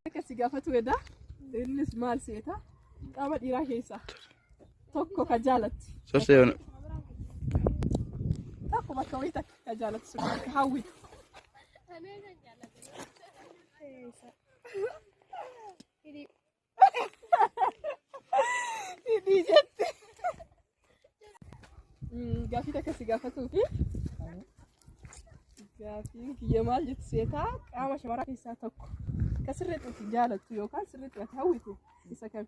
Akka si gaafatu edaa innis maal seeta qaama dhiiraa keessaa. Tokko ka jaalatti. Sorsee yoona. Tokko bakka wayii takka ka jaalatti sun bakka hawwitu. Hidhii jette. Mm, Gaaffii takka si gaafatuu fi gaaffii kiyya maal jettu seetaa qaama shamaraa keessaa tokko ka sirriitti itti jaalattu yookaan sirriitti ati hawwitu isa kami?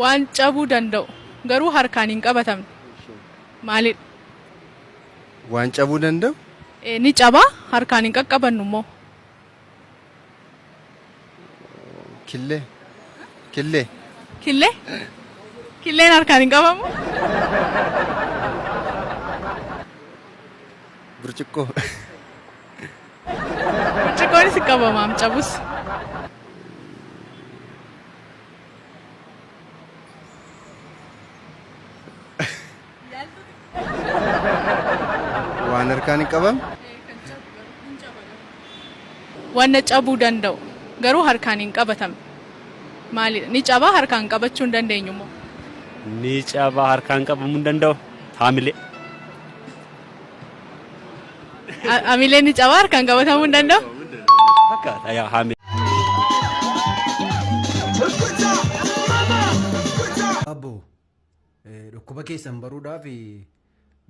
Waan cabuu danda'u garuu harkaan hin qabatamne maalidha? Waan cabuu danda'u? Eh, Ni caba harkaan hin qaqqabannu immoo. Killee. Killee. Killee? Killeen harkaan hin qabamu? Burcuqqoo. Burcuqqoonis hin qabamaam cabus. Waan harkaan hin qabamne. Wanna cabuu danda'u garuu harkaan hin qabatamne. Maalidha? Ni cabaa harkaan qabachuu hin dandeenyu immoo. Ni cabaa harkaan qabamuu hin danda'u. Haamilee. Hamileen ni caba harkaan qabatamuu hin danda'u. Fakkaata yaa haamee. Abbo eh, dhukkuba keessan baruudhaaf eh,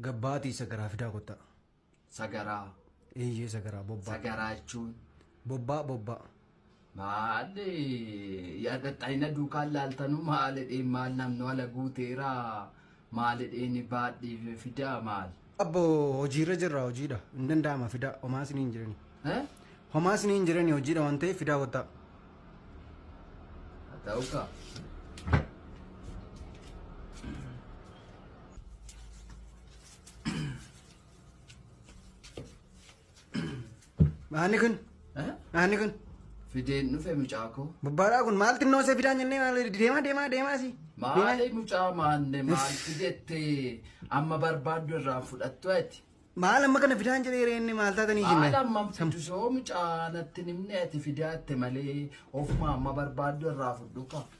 gabbaatii sagaraa fidaa kottaa. Sagaraa. Eeyyee sagaraa bobbaa. Sagaraa jechuun. Bobbaa bobbaa. Maali yaadaxayina duukaan laaltanu maalidheen maal namni wala guuteera maalidheen baadhii fidaa maal. Abbo hojiirra jirra hojiidha hin danda'ama fidaa homaa isin hin jirani. Eh? Homaa isin hin jirani hojiidha waan ta'eef fidaa kottaa. Haa ta'u kaa. Maanni kun? Maanni kun? Fideen dhufe mucaa koo. Bubbaadhaa kun maal xinnoo isa fidaan jennee maal deemaa deemaa deemaa si. Maali mucaa maanne maal fidettee amma barbaaddu irraa fudhattu ati. Maal amma kana fidaan jedhee reenne maal taatanii jennee. Maal amma fidu soo mucaa natti nimne ati fidaatte malee ofuma amma barbaaddu irraa fudhu qaba.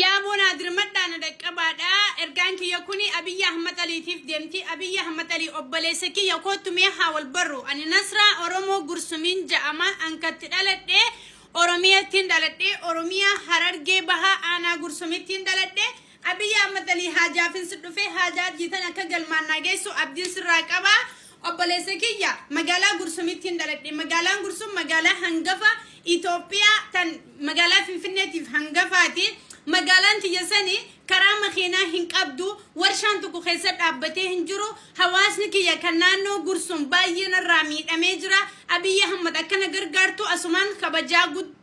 Yaa boonaa dirmadhaa na dhaqqabaadha. Ergaan kiyya kuni Abiyyi Ahmad Aliitiif deemti. Abiyyi Ahmad Alii obboleessa kiyya kootu mee haa wal barru. Ani Nasraa Oromoo Gursumiin ja'ama. Ankatti dhaladhe Oromiyattiin dhaladhe. Oromiyaa Harargee Bahaa Aanaa Gursumittiin dhaladhe. Abiy Ahmed Alii Haajaafin si dhufee haajaa Hajjii tan akka galmaan naa geessu abdiin sirraa qaba. Obboleessa kiyya magaalaa Gursumittiin dhaladhe. Magaalaan Gursum magaalaa hangafa Itoophiyaa tan magaalaa Finfinneetiif hangafaati. Magaalaan tiyya sani karaa makiinaa hin qabdu. Warshaan tokko keessa dhaabbatee hin jiru. Hawaasni kiyya kan naannoo Gursum baay'ee narraa miidhamee jira. Abiy Ahmed akkana gargaartu asumaan kabajaa guddaa.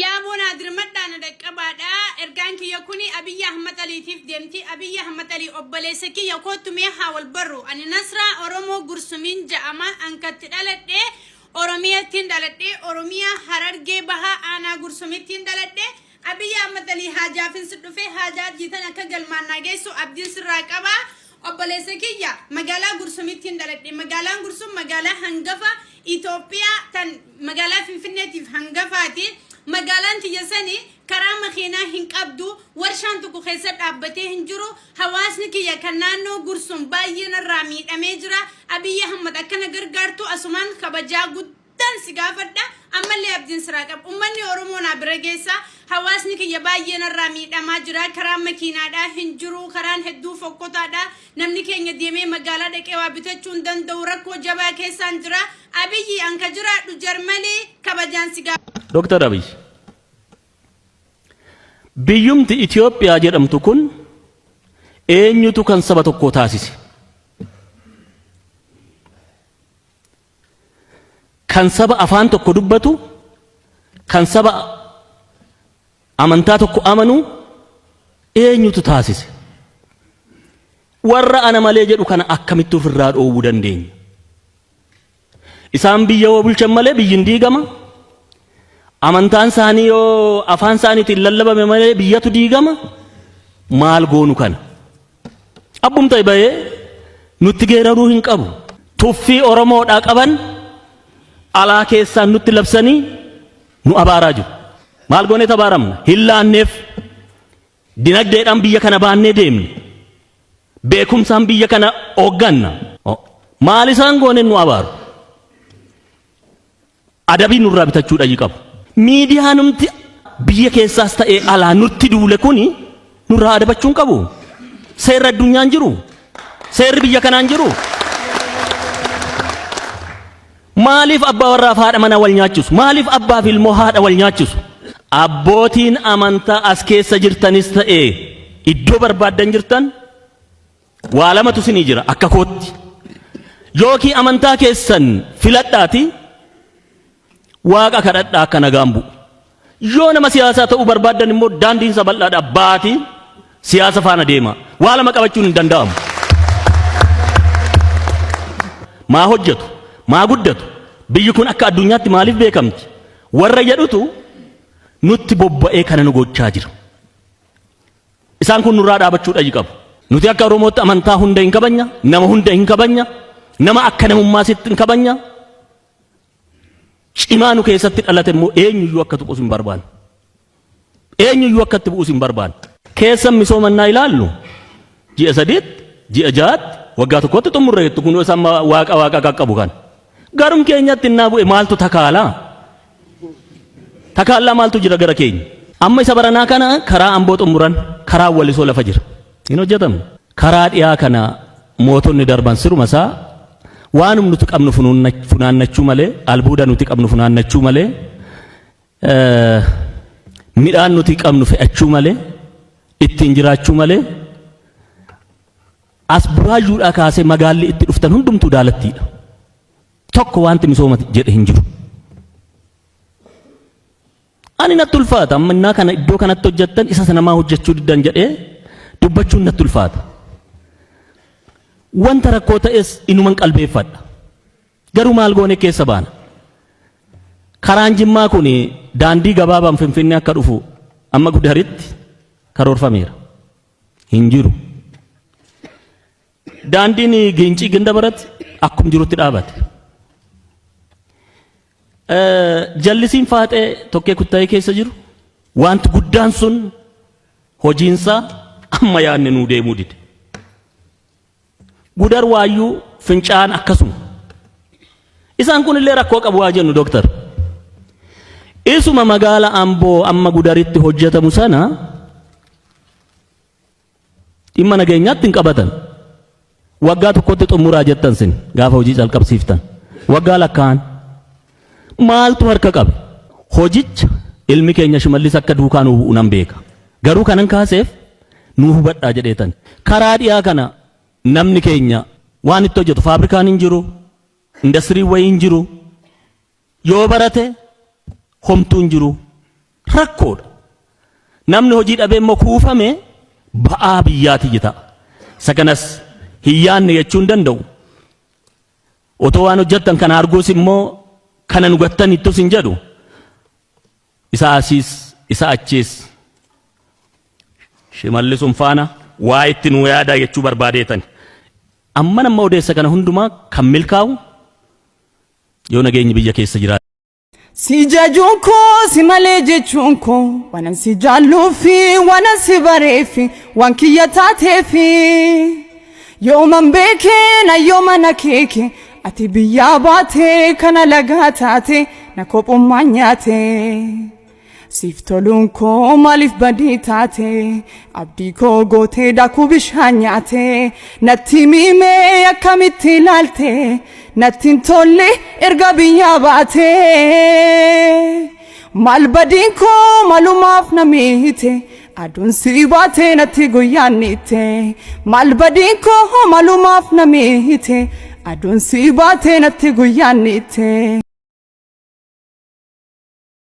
Yaa boonaa dirmadhaa na dhaqqabaadha. Ergaan kiyya kun Abiyyi Ahmad Aliitiif deemti. Abiyyi Ahmad Alii obboleessa kiyya kootu mee haa wal barru. Ani Nasraa Oromoo Gursumiin ja'ama. Ankatti dhaladhe Oromiyattiin dhaladhe. Oromiyaa Harargee Bahaa Aanaa Gursumittiin dhaladhe. Abiy Ahmed Alii Haajaafin si dhufee haajaa Hajjii tan akka galmaan naa geessu abdiin sirraa qaba. Obboleessa kiyya magaalaa Gursumittiin dhaladhe. Magaalaan Gursum magaalaa hangafa Itoophiyaa tan magaalaa Finfinneetiif hangafaati. Magaalaan tiyya sani karaa makiinaa hin qabdu. Warshaan tokko keessa dhaabbatee hin jiru. Hawaasni kiyya kan naannoo Gursum baay'ee narraa miidhamee jira. Abiy Ahmed akkana gargaartu asumaan kabajaa guddaa. tan si gaafadha ammallee abdiin siraa qaba ummanni oromoo naa bira geessaa hawaasni kiyya baay'ee narraa miidhamaa jira karaan makiinaadhaa hin jiru karaan hedduu fokkotaadha namni keenya deemee magaalaa dhaqee waa bitachuu hin danda'u rakkoo jabaa keessaan jira abiyyi anka jiraadhu jarmalii kabajaan si gaafadha. Dooktar Abiy biyyumti Itoophiyaa jedhamtu kun eenyutu kan saba tokkoo taasise? kan saba afaan tokko dubbatu, kan saba amantaa tokko amanu eenyutu taasise? Warra ana malee jedhu kana akkamitti ofirraa dhoowwuu dandeenya? Isaan biyya yoo bulchan malee biyyi hin diigama. Amantaan isaanii yoo afaan isaaniitiin lallabame malee biyyatu diigama. Maal goonu kana? Abbum ta'e bahee nutti geeraruu hin qabu. Tuffii Oromoodhaa qaban alaa keessaan nutti labsanii nu abaaraa jiru. Maal goonee tabaaramna? Hin laanneef. Dinagdeedhaan biyya kana baannee deemne. Beekumsaan biyya kana hoogganna. Maal isaan gooneen nu abaaru? Adabii nurraa bitachuu dhayi qabu. Miidiyaanumti biyya keessaas ta'ee alaa nutti duule kuni nurraa adabachuu hin qabu. Seerri addunyaa hin jiru. Seerri biyya kanaa hin jiru. Maaliif abbaa warraa fi haadha manaa wal nyaachisu? Maaliif abbaa fi ilmoo haadha wal nyaachisu? Abbootiin amantaa as keessa jirtanis ta'ee iddoo barbaaddan jirtan Waa lamatu isinii jira akka kootti. Yookii amantaa keessan filadhaati waaqa kadhadhaa akka nagaan bu'u. Yoo nama siyaasaa ta'uu barbaaddan immoo daandiin isa bal'aadha baati siyaasa faana deema. Waa lama qabachuun hin danda'amu. Maa hojjetu, maa guddatu, biyyi kun akka addunyaatti maaliif beekamti? Warra jedhutu nutti bobba'ee kana nu gochaa jira. Isaan kun nurraa dhaabachuu dhayi qabu. Nuti akka Oromootti amantaa hunda hin kabanya, nama hunda hin kabanya, nama akka namummaa sitti hin kabanya. Cimaa nu keessatti dhalate immoo eenyuyyuu akka tuqus hin barbaanne. Eenyuyyuu akka itti bu'us hin barbaanne. Keessan misooma innaa ilaallu ji'a sadiitti, ji'a ja'aatti, waggaa tokkotti xumurreettu kun isa amma waaqa waaqa qaqqabu kan. Garum keenyatti innaa bu'e maaltu takaalaa? Takaallaa maaltu jira gara keenya? Amma isa baranaa kana karaa Amboo xummuran karaan Walisoo lafa jira. Hin hojjatamu. Karaa dhiyaa kana mootonni darban siruma isaa waanum nuti qabnu funaannachuu malee, albuuda nuti qabnu funaannachuu malee, midhaan nuti qabnu fe'achuu malee, ittiin jiraachuu malee, as buraayyuudhaa kaasee magaalli itti dhuftan hundumtuu daalattiidha. Tokko wanti misooma jedhe hin jiru. Ani natti ulfaata amma innaa kana iddoo kanatti hojjettan isa sana maa hojjechuu diddan jedhee dubbachuun natti ulfaata. Wanta rakkoo ta'es inuman qalbeeffadha. Garuu maal goone keessa baana. Karaan jimmaa kun daandii gabaabaan finfinnee akka dhufu amma gudaritti karoorfameera. Hin jiru. Daandiin Giincii Gindabarat akkum jirutti dhaabate. Jallisiin faaxee tokkee kuttaa'ee keessa jiru wanti guddaan sun hojiinsaa amma yaadne nuu deemuu dide. Gudar waayyuu fincaan akkasuma. Isaan kun illee rakkoo qabu waa jennu dooktar. Isuma magaala Amboo amma gudaritti hojjetamu sana Dhimma nageenyaatti hin qabatan. Waggaa tokkotti xumuraa jettan sin gaafa hojii calqabsiiftan. Waggaa lakkaa'an. Maaltu harka qabe? Hojicha ilmi keenya shimallis akka duukaa nu bu'u nan beeka. Garuu kanan kaaseef nu hubadhaa jedheetan. Karaa dhiyaa kana namni keenya waan itti hojjetu faabrikaan hin jiru, indastiriin wayii hin jiru. Yoo barate homtuu hin jiru. rakkoodha. Namni hojii dhabee immoo kuufame ba'aa biyyaati jeta. Isa kanas hin yaadne jechuu hin danda'u. Otoo waan hojjettan kana arguus immoo kana nu gattanittus hin jedhu. Isa asiis isa achiis shimallisuun faana waa itti nu yaadaa jechuu barbaadeetani. Amman amma odeessa kana hundumaa kan milkaa'u yoo nageenyi biyya keessa jiraate. Si jajuun koo si malee jechuun koo waanan si jaalluufi waanan si bareefi waan kiyya taateefi yooman beekee na yooma na keeke ati biyyaa baatee kana lagaa taate na kophummaan nyaate. Siif toluun koo maaliif badii taate abdii koo gootee daakuu bishaan nyaate natti miimee akkamitti ilaalte natti hin tolle erga biyyaa baate maal badiin koo malumaaf na miite aduun si baate natti guyyaan niite maal badiin koo malumaaf na miite aduun si baate natti guyyaan niite.